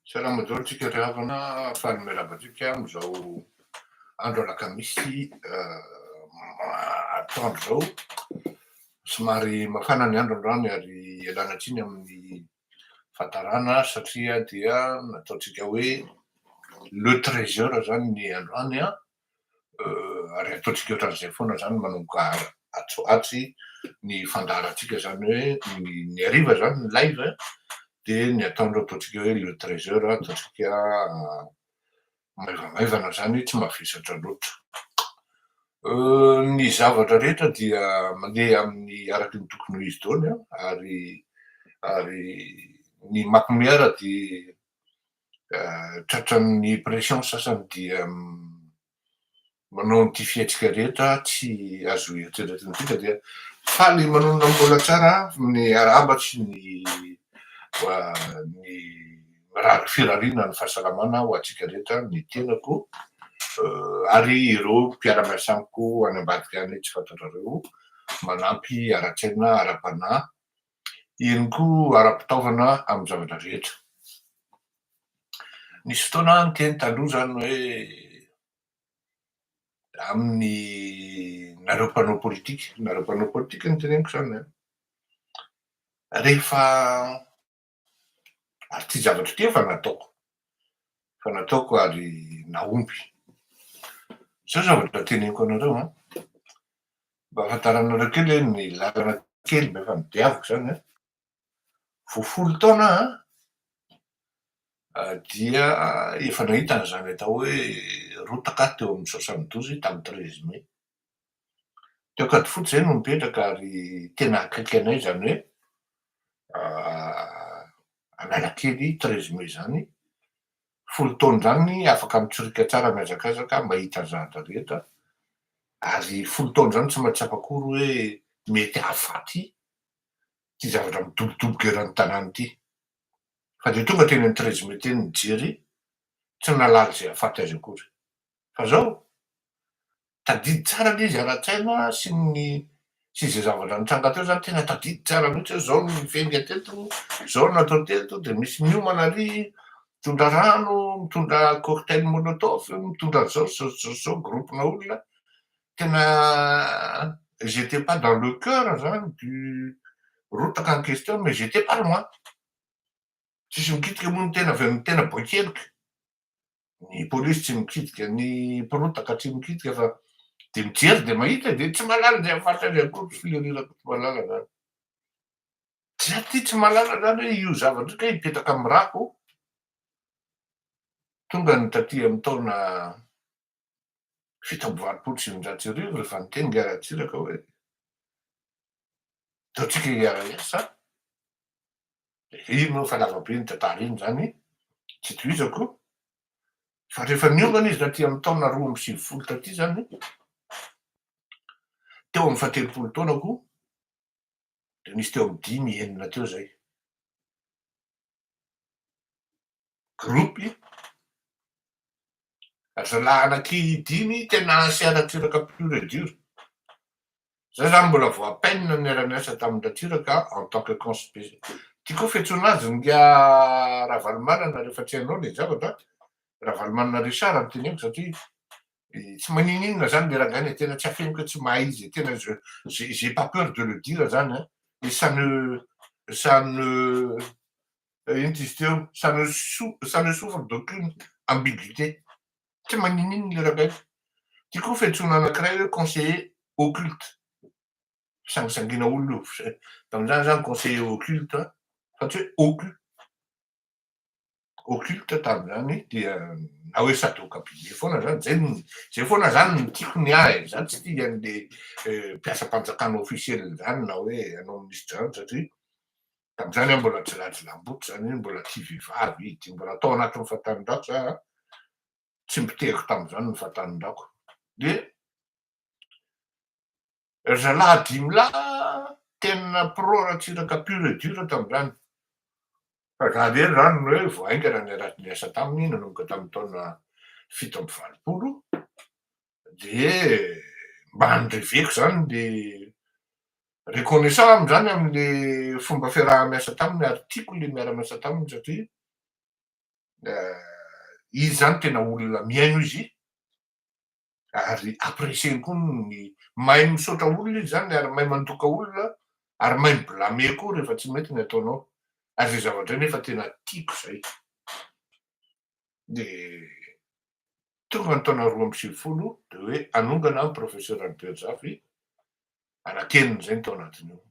Salama daholo tsika ry havana, faly miarahaba antsika amin'izao andro alakamisy atoandro izao. Somary mafana ny andro androany ary ialana tsiny amin'ny fahatarana satria dia nataontsika hoe le treize heures izany ny androany an, ary ataontsika ohatran'izay foana zany manomboka atsy atsy ny fandaharantsika zany hoe ny hariva zany ny live de ny ataon'ireo ataontsika hoe le treize heures ataontsika maivamaivana zany tsy mavesatra loatra ny zavatra rehetra dia mandeha amin'ny araky ny tokony ho izy daholo ary ary ny macmiara dia tratran'ny pression sasany dia manao an'ity fihetsika rehetra tsy azo eritreretina ity fa dia faly manonona mbola tsara amin'ny arahaba sy ny ny mirary firariana ny fahasalamana ho antsika rehetra ny tenako ary ireo mpiara-miasa amiko any ambadika any tsy fantatrareo manampy ara-tsaina ara-panahy Eny koa, ara-pitaovana amin'ny zavatra rehetra. Nisy fotoana aho niteny taloha izany hoe amin'ny nareo mpanao politika, nareo mpanao politika no teneniko izany an, rehefa, ary ity zavatra ity efa nataoko, efa nataoko ary nahomby, izao zavatra teneniko anareo an, Mba ahafantaranareo kely hoe ny lalana kely mba efa nodiaviko izany an, vao folo taona aho an, dia efa nahita an'izany atao hoe rotaka aho teo amin'ny soixante douze tamin'ny treize mai. Teo Ankadifotsy izay no nipetraka ary tena akaiky anay izany hoe Analakely treize mai izany folo taona izany afaka mitsoriaka tsara mihazakazaka mba hita zahatra rehetra ary folo taona izany tsy maintsy afakory hoe mety hahafaty ity zavatra midobodoboka eran'ny tanàna ity fa dia tonga teny amin'ny treize mai teny ny jery tsy nahalala izay hahafaty azy akory. Fa izao, tadidy tsara aloha izy ara-tsaina sy ny sy izay zavatra nitranga teo izany, tena tadidy tsara mihitsy hoe izao no nifenga teto, izao no natao teto, dia misy miomana ary mitondra rano, mitondra cocktail molotov, mitondra an'izao sy izao sy izao sy izao groupe-na olona, tena ils étaient pas dans le coeur izany du rotaka en question mais ils étaient pas loin, tsisy mikitika moa ny tena avy amin'ny tena boin-keloka. Ny polisy tsy mikitika ny mpirotaka tsy mikitika fa dia mijery dia mahita dia tsy mahalala izay faritra izay koa tsy filerirak tsy mahalala izany tsy aty tsy mahalala izany hoe io zavatra io kay mipetraka amin'ny rako tonga ny taty amin'ny taona fito amby valopolo sy eninjato sy arivo rehefa niteny Ngah Ratsiraka hoe ataontsika IRS Lehibe moa fa lava be ny tantara iny zany tsy tohizako fa rehefa niomana izy taty amin'ny taona roa amby sivifolo taty zany teo amin'ny fahatelopolo taonako dia nisy teo amin'ny dimy enina teo zay groupe azalahy anaky dimy tena asia ratsiraka pure et dure za zany mbola vao à peine no niara niasa tamin'ny ratsiraka en tant que conspé ty koa fiantsoana azy nga ravalomanana rehefa tsy hainao le zavatra ravalomanana richard no teneniko satria tsy manininona zany le rangahy le tena tsy afeniko hoe tsy mahay izy tena je j'ai pas peur de le dire zany an et ça ne ça ne Inty izy teo, ça ne souffre d'aucune ambiguïté, tsy maninoninona ilay rangahy. Ity koa fiantsoana anankiray hoe conseiller occulte, fisangisangiana olona io, tamin'izany izaho ni-conseiller occulte fa tsy hoe occu. Occulte tamin'izany dia na hoe sadoka be be foana izany, izay no, izay foana izany no tiako ny ahy e, izaho tsy tia an'ilay mpiasam-panjakana officiel izany na hoe anao minisitra izany satria Tamin'izany aho mbola jilajilam-boto, izany hoe mbola tsy vehivavy izy, mbola tao anatin'ny fahatanin-drako izay aho, tsy nipotehiko tamin'izany ny fahatanin-drako. Dia ry zalahy dimy lahy tena pro Ratsiraka pur et dur tamin'izany. Fa za irery izany no hoe vao haingana niara-niasa taminy nanomboka tamin'ny taona fito amby valopolo, Dia mba nireveko izany dia reconnaissant aho amin'izany amin'ilay fomba fiaraha-miasa taminy ary tiako ilay miara-miasa taminy satria izy izany tena olona mihaino izy ary apprécier-ny koa ny mahay misaotra olona izy izany ary mahay mandoka olona ary mahay mi-blâmer koa rehefa tsy mety ny ataonao ary izay zavatra izay nefa tena tiako izay. ny tonga ny taona roa amby sivifolo dia hoe hanongana ny professeur Albert Zafy anaky enina izay ny tao anatiny eo.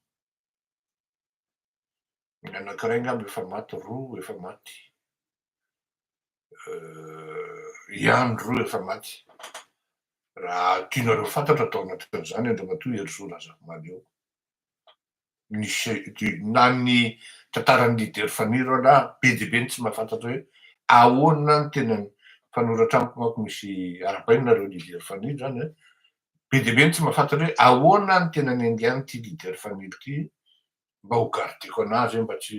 Ny anankiray angamba efa maty roa efa maty. Ihany euh, roa efa maty. Raha tianareo fantatra tao anatin'izany Andriamatoa Herisoa Razafimaly eo. ny chef du na ny tantaran'ny leader Faniro aloha be dia be ny tsy mahafantatra hoe ahoana ny tena mpanoratra amiko manko misy arahabaina nareo leader Faniro zany a, be dia be ny tsy mahafantatra hoe ahoana ny tena niaingain' ity leader Faniro ity mba ho gardeko anazy hoe mba tsy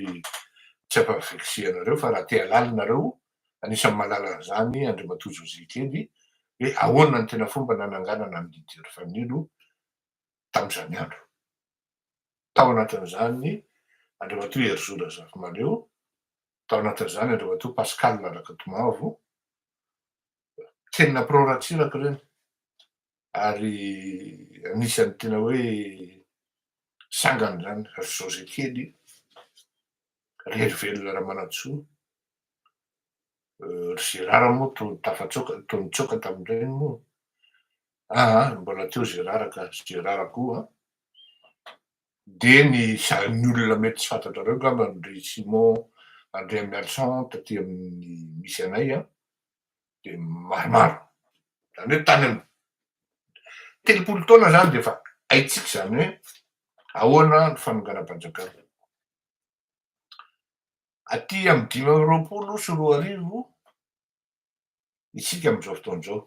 tsy hampa vexer anareo fa raha te halala nareo anisan'ny mahalala an'izany Andriamatoa José Kely hoe ahoana ny tena fomba nananganana an'i leader Faniro tamin'izany andro. Tao anatin'izany Andriamatoa Herizo Razafimaleo, tao anatin'izany Andriamatoa Pascal Rakatomavo. Teny nampirao Ratsiraka ireny ary anisan'ny tena hoe sangan'izany ry José kely, ry Herivelona Ramanantsoa, ry Gérard moa toa nitsoaka tamin'ireny moa Aa mbola teo Gérard ka Gérard koa dia ny sarin'ny olona mety tsy fantatrareo angamba an-dry Simon an-dry Emerson taty amin'ny misy anay an, dia maromaro izany hoe tany amin'ny telopolo taona izany dia efa haintsika izany hoe ahoana ny fanonganam-panjakana. Aty amin'ny dimy amby roapolo sy roa arivo isika amin'izao fotoana izao.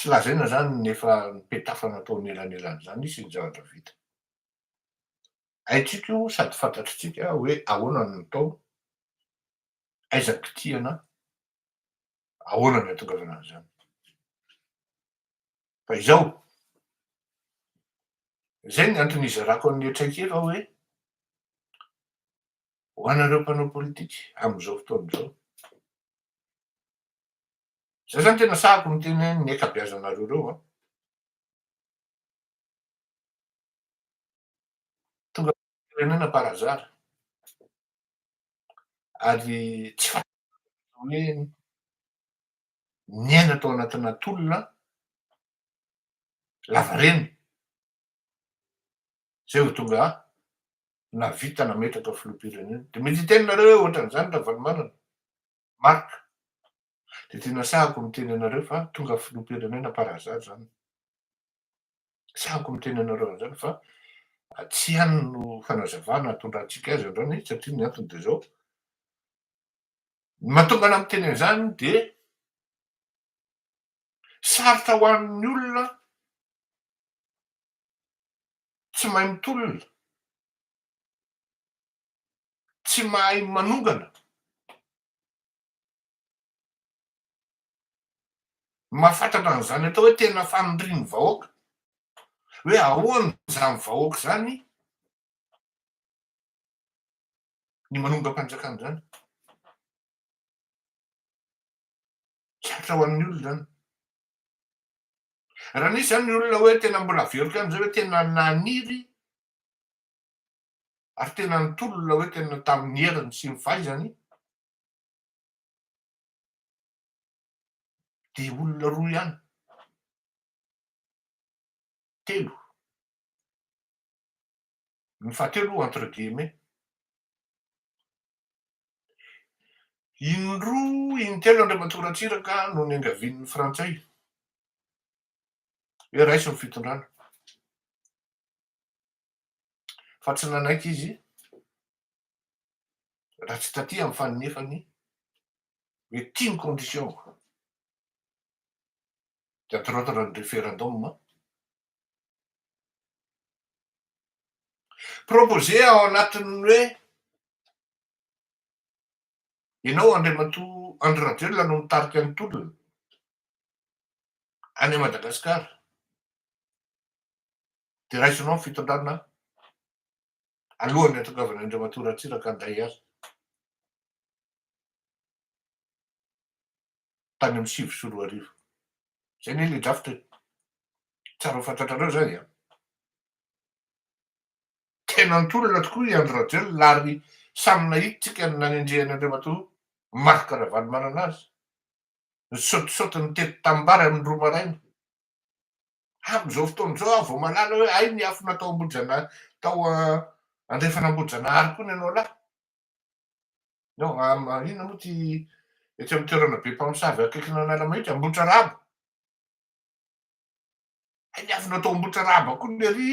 Tsy lazaina izany ny efa nipetafana atao anelanelan'izany sy ny zavatra vita. Haintsika io sady fantatritsika hoe ahoana ny nataony, aiza ny kitihana, ahoana ny hahatongavana an'izany. Fa izao, izay ny antony hizarako an'ilay traikefa hoe, ho anareo mpanao politika amin'izao fotoana izao, Zay zany tena sahako miteny hoe ny ankabeazanareo reo an. Tonga firenena par hasard. Ary tsy fantatrareo hoe niaina tao anatina tolona lavareny zay vao tonga nahavita nametraka filoham-pirenena. De mety hiteny nareo hoe ohatran'izany Ravalomanana. Marc, dia tena sahako miteny anareo fa tonga filoham-pirenena par hasard izany. Sahako miteny anareo an'izany fa tsy ihany no fanazavana atondrantsika azy androany satria ny antony dia izao, ny mahatonga anah miteny an'izany dia sarotra ho an'ny olona tsy mahay mitolona, tsy mahay manongana. Mahafatratra an'izany atao hoe tena fanondrian'ny vahoaka, hoe ahoana izany vahoaka izany ny manongam-panjakana izany. Sarotra ho an'ny olona izany. Raha nisy izany ny olona hoe tena mbola velona ihany izay hoe tena naniry ary tena nitolona hoe tena tamin'ny heriny sy ny fahaizany dia olona roa ihany, telo, ny fahatelo entre guillemets, indroa intelo Andriamatoa Ratsiraka no niangavian'ny frantsay hoe raiso ny fitondrana, fa tsy nanaiky izy raha tsy taty amin'ny fanonefany hoe ity ny condition-ko. Dia atoroatoro ny referendum. Proposer ao anatin'ny hoe ianao Andriamatoa Andry Rajoelina no mitarika ny tolona any Madagasikara. Dia raisinao ny fitondrana alohan'ny hahatongavana an'Andriamatoa Ratsiraka handay azy tany amin'ny sivy sy roa arivo. Izay anie ilay drafitra e. Tsara ho fantatrareo izany an. Tena nitolona tokoa i Andry Rajoelina ary samy nahitintsika ny nanendrehan'Andriamatoa Marc Ravalomanana azy. Nisaotisaoty nitety tanimbary amin'ny roa maraina. Amin'izao fotoana izao aho vao mahalala hoe hay niafina tao Ambohijana tao andrefana Ambohijanahary koa ny anao lahy. No, inona moa ty etsy amin'ny toerana be mpamosavy akaikina an'Alamahitsy, Ambohitraraba. Hay niafina tao Ambohitraraba koa ny ery,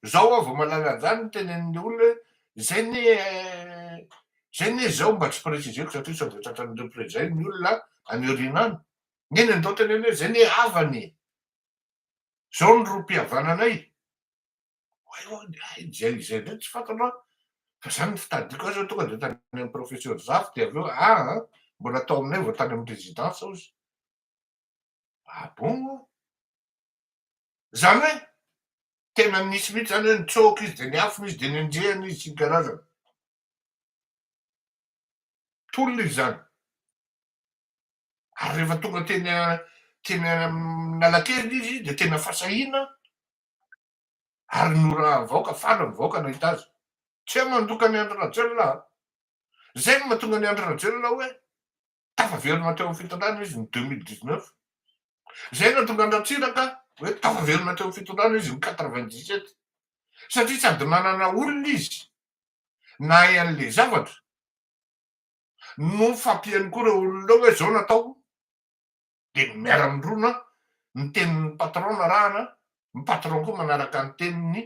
izao aho vao mahalala an'izany ny tenenin'ilay olona hoe izay ne izay ne izao mba tsy préciseko satria sao dia tratran'ireo mpiray izay ny olona any aoriana any. Neny ndao teneno hoe zay ne havana e! Zao ny rohim-pihavananay! Oay oay oay zay zay ndray tsy fantanao an! Fa zany ny fitadidiako azy hoe tonga dia tany amin'ny professeur Zafy dia avy eo a a! Mbola tao aminay vao tany amin'ny residence aho izy! Ah bon an! Zany hoe tena nisy mihitsy zany hoe nitsoaka izy dia niafina izy dia nenjehina izy sy ny karazany! Tolona izy zany! ary rehefa tonga teny teny Analakely izy dia tena fa sahina ary norahan'ny vahoaka, faly ny vahoaka nahita azy. Tsy hay mandoka an'i Andry Rajoelina an! Izay no mahatonga an'i Andry Rajoelina hoe tafaverina teo amin'ny fitondrana izy ny deux mille dix neuf. Izay no nahatonga an'i Ratsiraka hoe tafaverina teo amin'ny fitondrana izy ny quatre vingt dix sept. Satria sady nanana olona izy nahay an'ilay zavatra, no fampiany koa reo olona hoe zao natao de ny miara mindrona ny tenin'ny patron no arahana ny patron koa manaraka ny teniny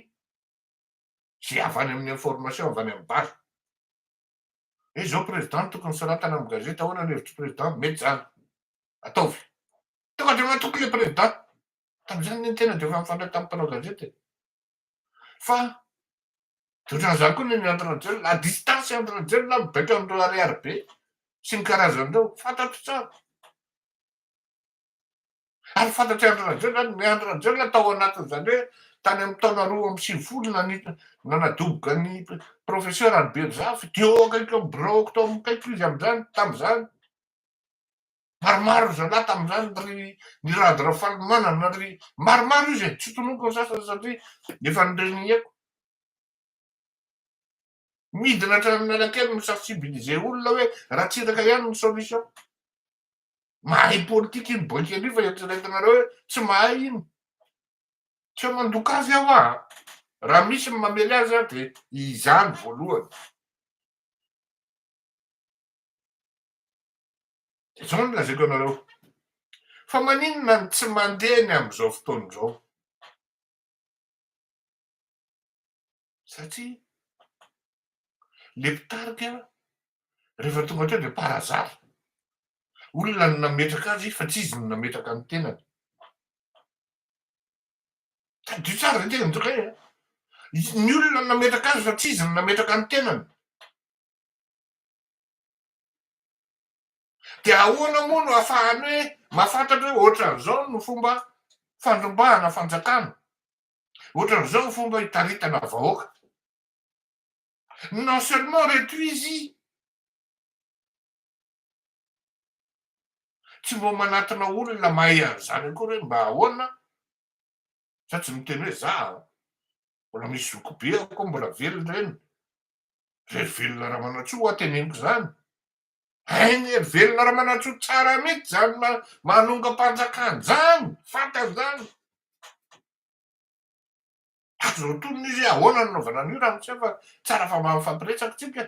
ze avy any amin'ny information avy any amin'ny base hoe zao president tokony soratana amin'ny gazety ahoana ny hevitry president mety zany ataovy tonga de matoky le president tamin'izany ny tena de efa mifandray tamin'ny mpanao gazety e Fa de ohatran'izany koa ny entre jeune, la distance entre jeune na mibaiko amin'ireo ariary be sy ny karazany ireo fantatro tsara. Ary fantatr'i Andry Rajoelina ny Andry Rajoelina tao anatin'izany hoe tany amin'ny taona roa amby sivifolo nani- nanadoboka ny professeur Albert Zafy dia eo akaiky amin'ny biraoko tao amin'ikaiko izy amin'izany tamin'izany. Maromaro ry zalahy tamin'izany ry Nirady Rafalimanana ry maromaro izy e, tsy tononiko ny sasany satria efa nireniheko. Midina hatrany Analakely mi sensibiliser olona hoe Ratsiraka ihany ny solution. Mahay politika iny boika iny fa eritreretinareo hoe tsy mahay iny. Tsy eo mandoka azy aho a! Raha misy ny mamely azy aho dia izany voalohany. Izao no lazaiko anareo, fa maninona no tsy mandeha ny amin'izao fotoana izao? Satria ilay mpitarika rehefa tonga teo dia par hasard. Olona no nametraka azy fa tsy izy no nametraka ny tenany. Tadidio tsara izay tena mitokay a. Ny olona no nametraka azy fa tsy izy no nametraka ny tenany. Dia ahoana moa no ahafahany hoe mahafantatra hoe ohatran'izao no fomba fandrombahana fanjakana, ohatran'izao no fomba hitaritana vahoaka? Non seulement reto izy tsy mba manatona olona mahay an'izany akory hoe mba ahoana fa tsy miteny hoe za mbola misy zokibe aho koa mbola velona eny Ry velona Ramanantsoa hoa teneniko izany. Hainy ry velona Ramanantsoa tsara mihitsy izany manongam-panjakana izany, fantany izany. Ato izao tonona izy hoe ahoana no nanaovana an'io raha miseho fa tsara fa mba mifampiresaka isika.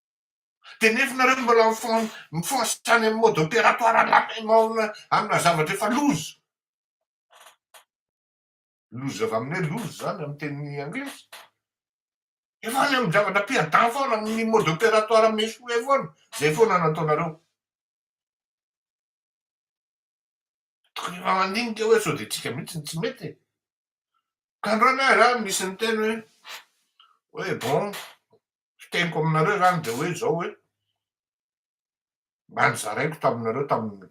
Dia nefa nareo mbola mifoha mifoha any amin'ny mode opératoire lame amina zavatra efa loza. Loza avy amin'ny hoe loza izany amin'ny teny anglisy. Efa any amin'ny zavatra perdant foana amin'ny mode opératoire amin'ny échoué foana. Izay foana no ataonareo. Tokony efa mandinika hoe sao dia tsika mihitsy no tsy mety e. Ka androany aho raha misy niteny hoe hoe bon fiteniko aminareo zany de hoe zao hoe, mba nozaraiko taminareo tamin'ny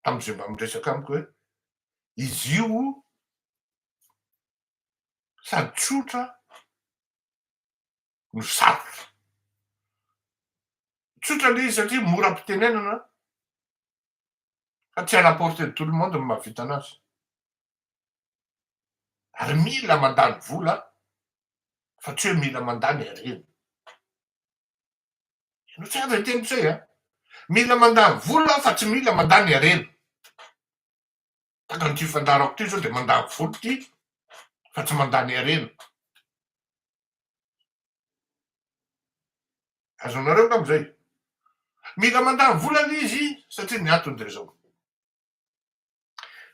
tamin'izay mba miresaka amiko hoe, izy io sady tsotra no sarotra, tsotra le izy satria mora am-pitenenana fa tsy à la portée de tout le monde ny mahavita anazy, Ary mila mandany vola fa tsy hoe mila mandany harena. Ianao tsara izay teniko izay a! Mila mandany vola aho fa tsy mila mandany harena. Takan'ity fandaharako ity izao dia mandany vola ity fa tsy mandany harena. Azonareo angamba izay? Mila mandany vola ilay izy satria ny antony dia izao.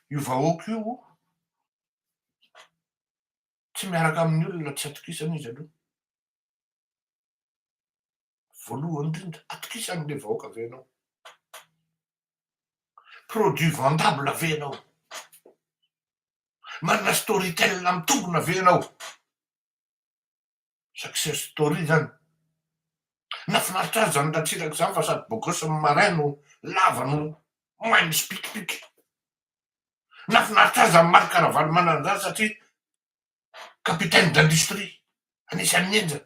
Io vahoaka io tsy miaraka amin'ny olona tsy atokisana izy aloha. Voalohany indrindra, atokisany ilay vahoaka ve ianao? Produit vendable ve ianao? Manana storytel mitombina ve ianao? success story zany. Nafinaritra ahy zany Ratsiraka zany fa sady bogos ny marin no lava no mahay misipikipiky. Nafinaritra ahy zany Marc Ravalomanana zany satria capitaine d'industrie anisan'ny henjana.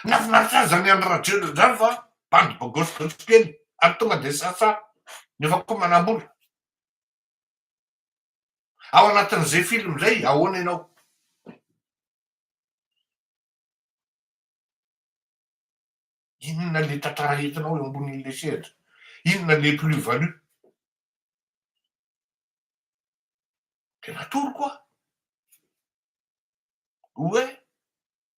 Nafinaritra ahy zany Andry Rajoelina zany fa bandy bogos gotikely ary tonga de sasa nefa koa manambola. Ao anatin'izay film izay, ahoana ianao? Inona ilay tantara entinao eo ambonin'ilay sehatra? Inona ilay plus value? Tena atoroko aho. Oe,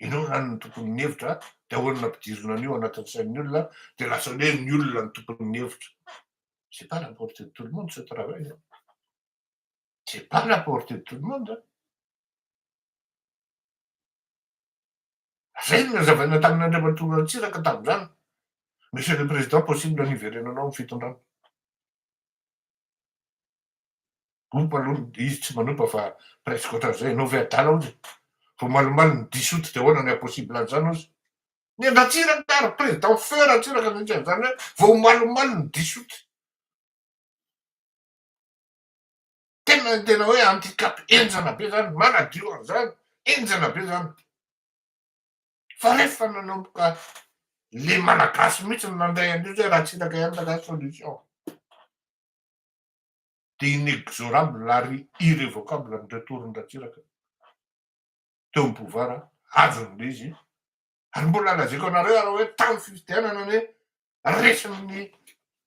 Ianao zany no tompon'ny hevitra dia ahoana no ampidirina an'io anatin'ny sain'ny olona dia lasa hoe ny olona no tompon'ny hevitra. C'est pas la portée de tout le monde ce travail là. C'est pas la portée de tout le monde. Zay no nazavaina tamin'Andriamatoa Ratsiraka tamin'izany. Monsieur le Président, possible ny hiverenanao amin'ny fitondrana. Ompa aloha ny izy tsy manompa fa presque ohatran'izay ianao ve adala ozy? Vao malimaly ny diso ity dia ahoana ny impossible an'izany ozy? Ny an Ratsiraka ary président feu Ratsiraka mihitsy an'izany hoe vao malimaly ny diso ity. Tena tena hoe handicap henjana be zany, manadio an'izany, henjana be zany. fa rehefa nanomboka le malagasy mihitsy no nandray an'io zay Ratsiraka ihany raha zany solution de inexorable ary irrevocable ny retour-n'Ratsiraka teo amin'ny pouvoir azony le izy ary mbola lazaiko anareo ary hoe tamin'ny fifidianana anie resin'ny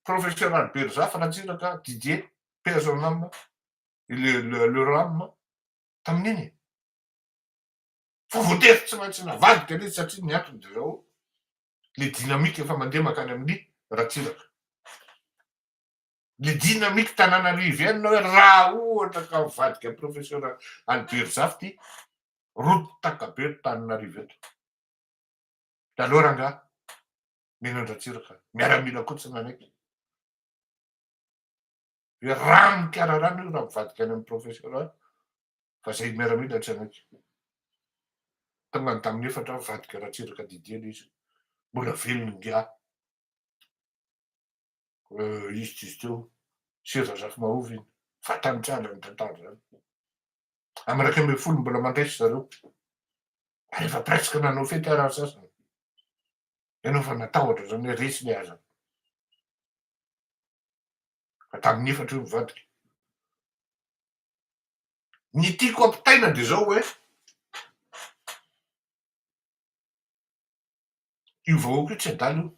professeur Albert Zafy Ratsiraka Didier paix à son âme le le le ram tamin'iny fa voatery tsy maintsy navadika le izy satria ny antony de zao le dynamique efa mandeha makany amin'ny Ratsiraka le dynamique tananarivienne hoe raha ohatra ka mivadika professeur Albert Zafy ty rotaka be eto tananarivo eto de aleo rangaha mino an-dRatsiraka miaramila koa tsy nanaiky hoe rano mikararano io raha mivadika any amin'ny professeur fa zay miaramila tsy hanaiky tena ny tamin'ny efatra mivadika Ratsiraka Didier le izy mbola velona ingahy izy tsy izy teo sy Razafimahovy iny fa tany tsy ala ny tantara zany amin'ny iraika ambin'ny folo mbola mandraisa zareo rehefa presque nanao fety ary ny sasany ianao fa natahotra zany hoe resy le aza fa tamin'ny efatra io mivadika Ny tiako ampitaina dia izao hoe, io vahoaka io tsy adala io.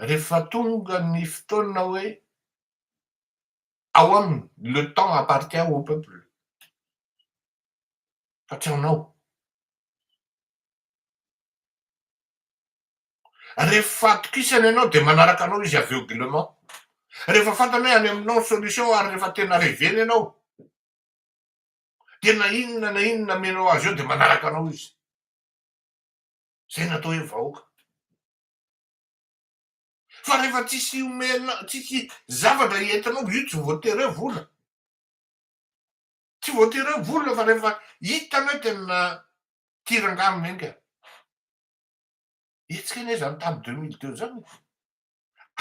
Rehefa tonga ny fotoana hoe ao aminy, le temps appartient au peuple, fa tsy anao. Ref fahatokisana ianao dia manaraka anao izy aveuglement. Rehefa fantany hoe any aminao ny solution ary rehefa tena reveny ianao dia na inona na inona amenao azy eo dia manaraka anao izy. Zay no atao hoe vahoaka. Fa rehefa tsisy omena, tsisy zavatra entinao, io tsy voatery hoe vola. Tsy voatery hoe vola fa rehefa hitany hoe tena tia rangahy menga. Hetsika anie izany tamin'ny deux mille deux izany e!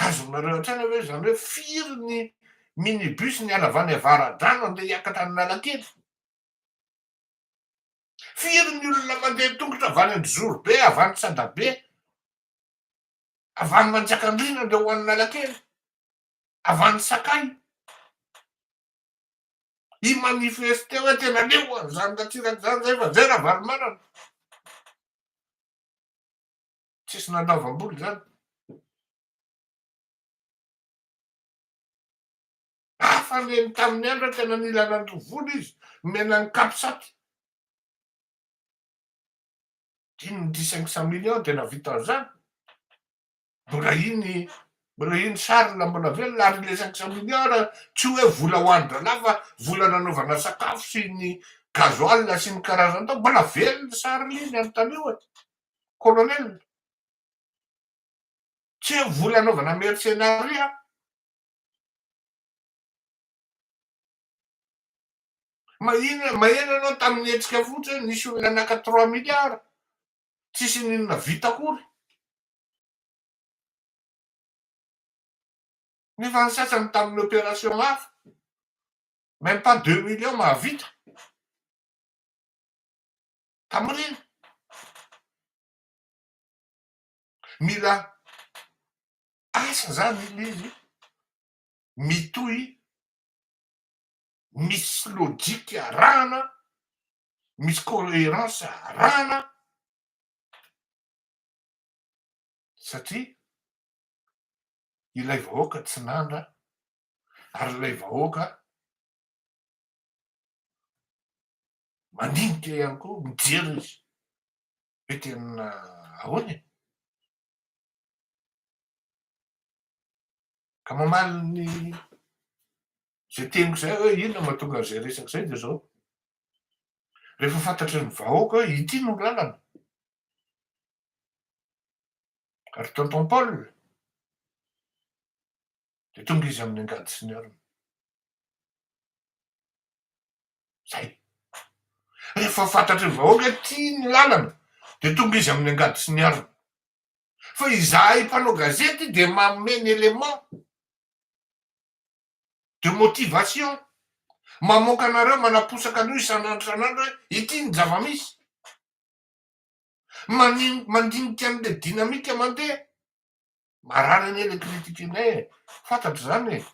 Azonareo an-tsaina ve izany hoe firy ny minibus niala avy any Avaradrano handeha hiakatra any Analakely? Firy ny olona mandeha an-tongotra avy any Androzorobe, avy any Tsadabe, avy any Manjakandriana handeha ho any Analakely, avy any Sakay? I manifeste hoe tena leo an zany ratsiraka zany zay fa zay ravalomanana tsisy nandaovam-bola zany hafa ny eny tamin'ny andro tena nila nandoa vola izy nomena ny capsat dimy ny dix cinq cent millions dia nahavita an'izany Mbola iny mbola iny sarina mbola velona ary ilay cinq cent milliards tsy hoe vola ho an-drahalahy fa vola nanaovana sakafo sy ny gasoil sy ny karazany tao mbola velona sarina iny ary taloha e colonel tsy hoe vola anaovana mercenariat mahina maheno ianao tamin'ny hetsika fotsiny nisy olona naka trois milliards tsisy n'inona vita akory Nefa ny sasany tamin'ny opération hafa, même pas deux millions mahavita. Tamorina. Mila asa zany ilay izy mitohy misy logique arahana, misy cohérence arahana. satria ilay vahoaka tsy nanda ary ilay vahoaka mandinika ihany koa mijery izy hoe tena ahoana e ka mamaly ny zay teniko zay hoe inona mahatonga an'izay resaka izay dia zao rehefa fantatry ny vahoaka hoe ity no lalana Ary tonton Paul dia tonga izy amin'ny angady sy ny harona. Zay. Rehefa fantatry ny vahoaka tia ny lalana dia tonga izy amin'ny angady sy ny harona. Fa izahay mpanao gazety dia manome ny élément de motivation. Mamoaka anareo manaposaka an'io isan'andro isan'andro hoe ity ny zava-misy. Manin mandinika an'le dynamique mandeha. Marary anie le critique nay e, fantatro zany e,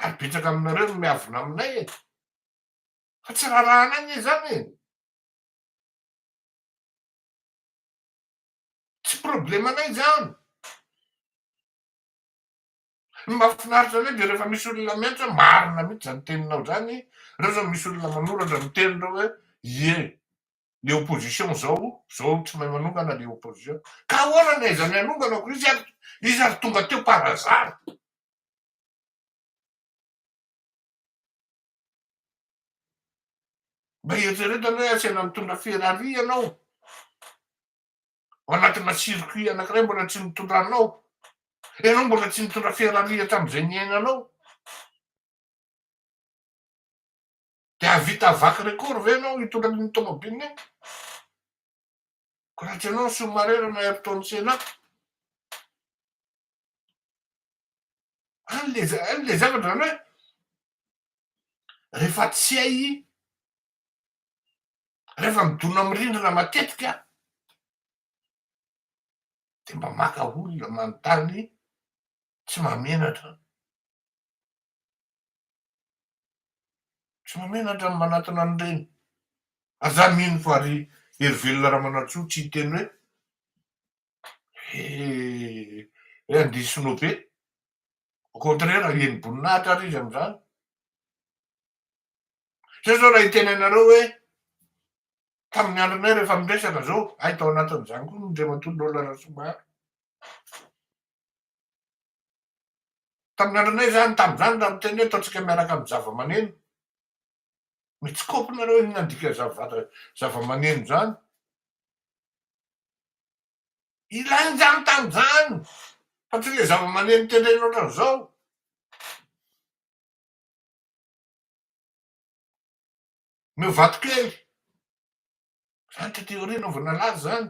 ary betsaka aminareo no miavona aminay e, fa tsy rarahanay anie zany e, tsy problème anay zany. Ny mahafinaritra anay de rehefa misy olona miantso hoe marina mihitsy zany teninao zany, reo zao misy olona manoratra miteny reo hoe ie le opposition zao zao tsy mahay manongana le opposition ka ahoana ny aizan'ny hanongana ko izy ary izy ary tonga teo par hasard mba eritreretana hoe asena mitondra ferrari ianao ao anatina circuit anankiray mbola tsy nitondra anao ianao mbola tsy nitondra ferrari hatramin'izay niainanao Dia hahavita vaky record ve ianao hitondra an'iny tomobilina iny? Koa raha tsy ianao ny sous-marera na Ayrton Senna? Any le za- any le zavatra zany hoe rehefa tsy hay i- rehefa midona amin'ny rindrina matetika dia mba maka olona manontany tsy mahamenatra. Tsy mahamenatra ny manatona an'ireny. Aza mino fa ry Herivelona Ramanantsoa tsy hiteny hoe he hoe andeha sinoa be. Au contraire ahian'ny boninahitra ary izy amin'izany. Zao zao raha hiteny anareo hoe tamin'ny andronay rehefa miresaka zao, hay tao anatin'izany koa ny Andriamatoa Nolly Rasoabary. Tamin'ny andronay izany, tamin'izany raha miteny hoe ataontsika miaraka amin'ny zavamaneno, mitsikôpy nareo inona ny dikan'izany zavamaneno izany? Ilaina izany tamin'izany, fa tsy ilay zavamaneno tendrena ohatran'izao. Meo vatokely, izany tety aoriana vao nalaza izany.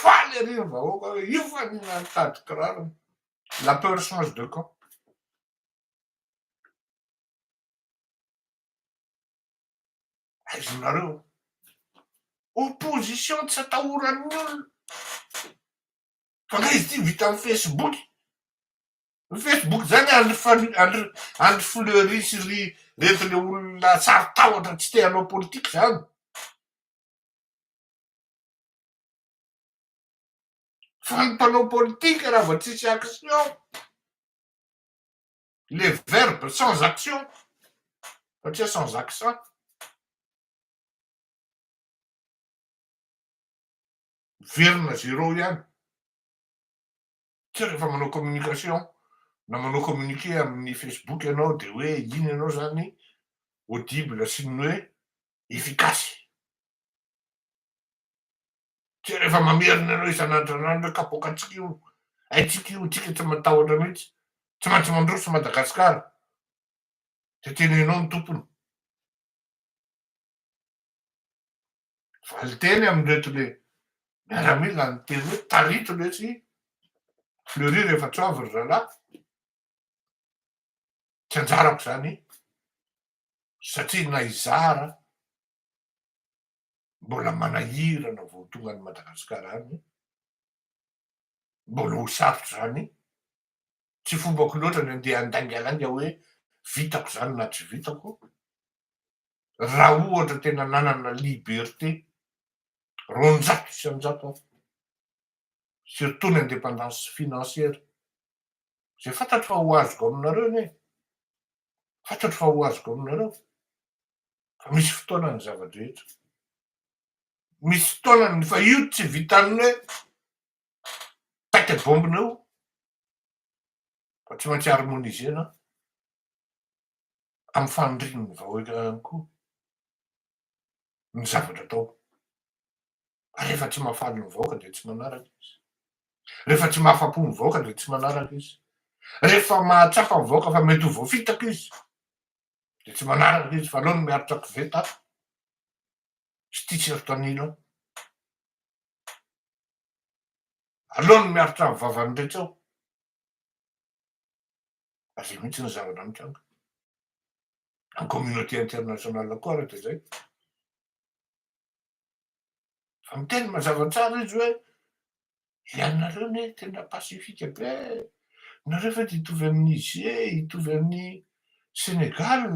Faly ery ny vahoaka hoe io fa ny mitady kiraro, la peur change de camp. Aizonareo io. Opposition tsy atahoran'ny olona. Fa nga izy ity vita amin'ny Facebook. Ny Facebook zany andry fal- andry andry fleury sy ry reto le olona tsary tahotra tsy te hanao politika zany. Fa ny mpanao politika raha vao tsisy action, le verbe sans action, satria sans accent, miverina zero ihany. Tsy rehefa manao communication na manao communiqué amin'ny Facebook ianao dia hoe iny ianao izany audible sy ny hoe efficace. Tsy rehefa mamerina ianao isan'andron'andro hoe kapoaka antsika io, haintsika io, tsika tsy matahotra mihitsy, tsy maintsy mandroso Madagasikara dia tena ianao no tompony. valinteny amin'ireto le miaramila niteny hoe tarito lesy fleury rehefa tsy avy ry zalahy tsy anjarako zany satria na izara mbola manahirana vao tonga any madagasikara any mbola ho sarotra zany Tsy fombako loatra ny andeha handaingainga hoe vitako izany na tsy vitako, raha ohatra tena nanana liberté roanjato isan-jato aho, surtout ny indépendance financière, izay fantatro fa ho azoko aminareo anie e, fantatro fa ho azoko aminareo fa misy fotoana ny zava-drehetra, misy fotoana ny, fa io tsy vitan'ny hoe Tête bombe nao fa tsy maintsy harmonisena amin'ny fanirian'ny vahoaka ihany koa ny zavatra atao. Rehefa tsy mahafaly ny vahoaka dia tsy manaraka izy. Rehefa tsy mahafa-po ny vahoaka dia tsy manaraka izy. Rehefa mahatsapa ny vahoaka fa mety ho voafitaka izy dia tsy manaraka izy fa aleo ny miaritra koveta sy t-shirt an'ila. Aleo ny miaritra ny vavan'ny rehetra eo. Ary izay mihitsy ny zavatra mitranga. Ny communauté internationale koa ary dia izay. Fa miteny mazava tsara izy hoe ianareo ne tena pacifique be nareo ve dia hitovy amin'ny Niger, hitovy amin'ny Sénégal,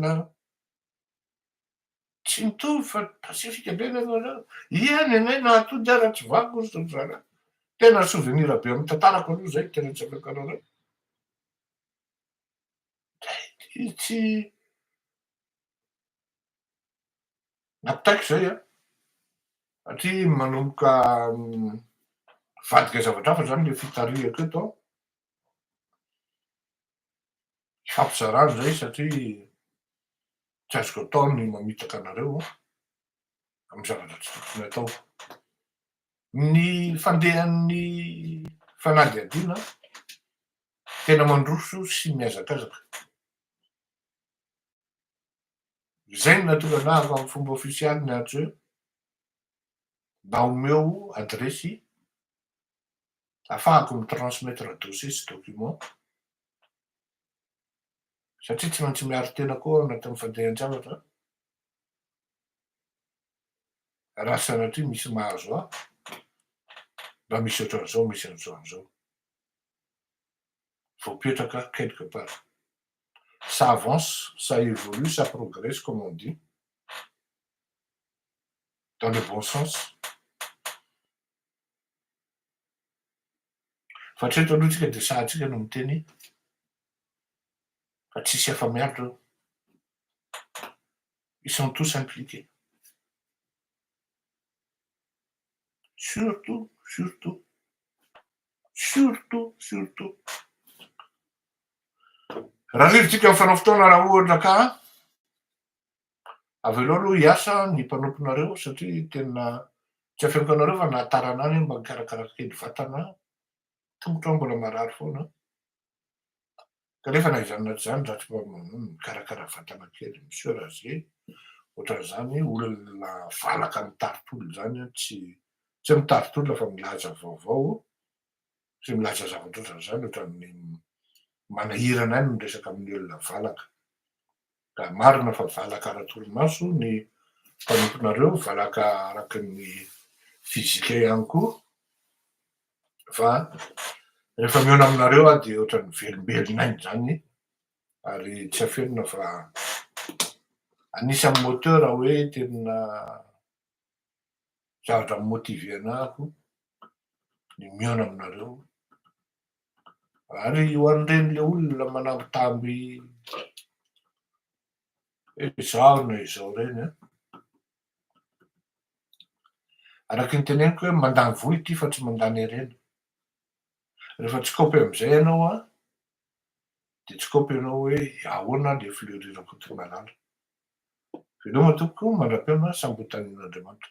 Tsy mitovy fa pasifika be nareo zany. Iany anay nahatody aho raha tsy vaky ory zao zana. Tena souvenir be amin'ny tantarako aloha zay tena tsy afaka nareo. Tsy tsy nampitaiko zay an. Satria manomboka mivadika zavatra hafa zany le fitarihako eto an. hampizarà izay satria tsy azoko atao ny mamitaka anareo amin'ny zavatra tsy tokony atao. Ny fandehan'ny fanadihadiana tena mandroso sy mihazakazaka. Izay no nahatonga anà avy amin'ny fomba ofisialy niantso hoe mba omeo adiresy afahako mi transmettre dossier sy document satria tsy maintsy miaro tena koa aho anatin'ny fandehan-javatra raha sanatria misy mahazo ahy mba misy ohatran'izao misy an'izao an'izao voapetraka quelque part ça avance ça évolue ça progresse comme on dit dans le bon sens Fa hatreto aloha tsika dia sahy tsika no miteny fa tsisy afa miaritra eo. Ils sont tous impliqués. Surtout, surtout, surtout, surtout. Raha rivitsika mifanao fotoana raha ohatra ka Avelao aloha hiasa ny mpanomponareo satria tena tsy afeniko anareo fa na tarana any aho mba mikarakara kely vatana tongotro aho mbola marary foana kanefa na izany na tsy izany za tsy mba mikarakara vatana kely monsieur Raze ohatran'izany olona valaka mitari-tolona izany an tsy tsy hoe mitari-tolona fa milaza vaovao sy milaza zavatra ohatran'izany ohatran'ny manahirana ahy ny miresaka amin'ny olona valaka Raha marina fa valaka ara-torimaso ny mpanomponareo, valaka araka ny fizika ihany koa, fa rehefa mihaona aminareo aho dia ohatran'ny velombelona aina izany, ary tsy afenina fa anisan'ny moteur hoe tena zavatra mi-motiver-na aho ny mihaona aminareo Ary ho an'ireny le olona manambitamby izao na izao ireny an! Araka ny teneniko hoe mandany vola ity fa tsy mandany harena. Rehefa tsy kaopy amin'izay ianao an, dia tsy kaopy ianao hoe ahoana le fleury rakotomalala. Veloma tompoko mandra-pihaona sambotan'Andriamanitra.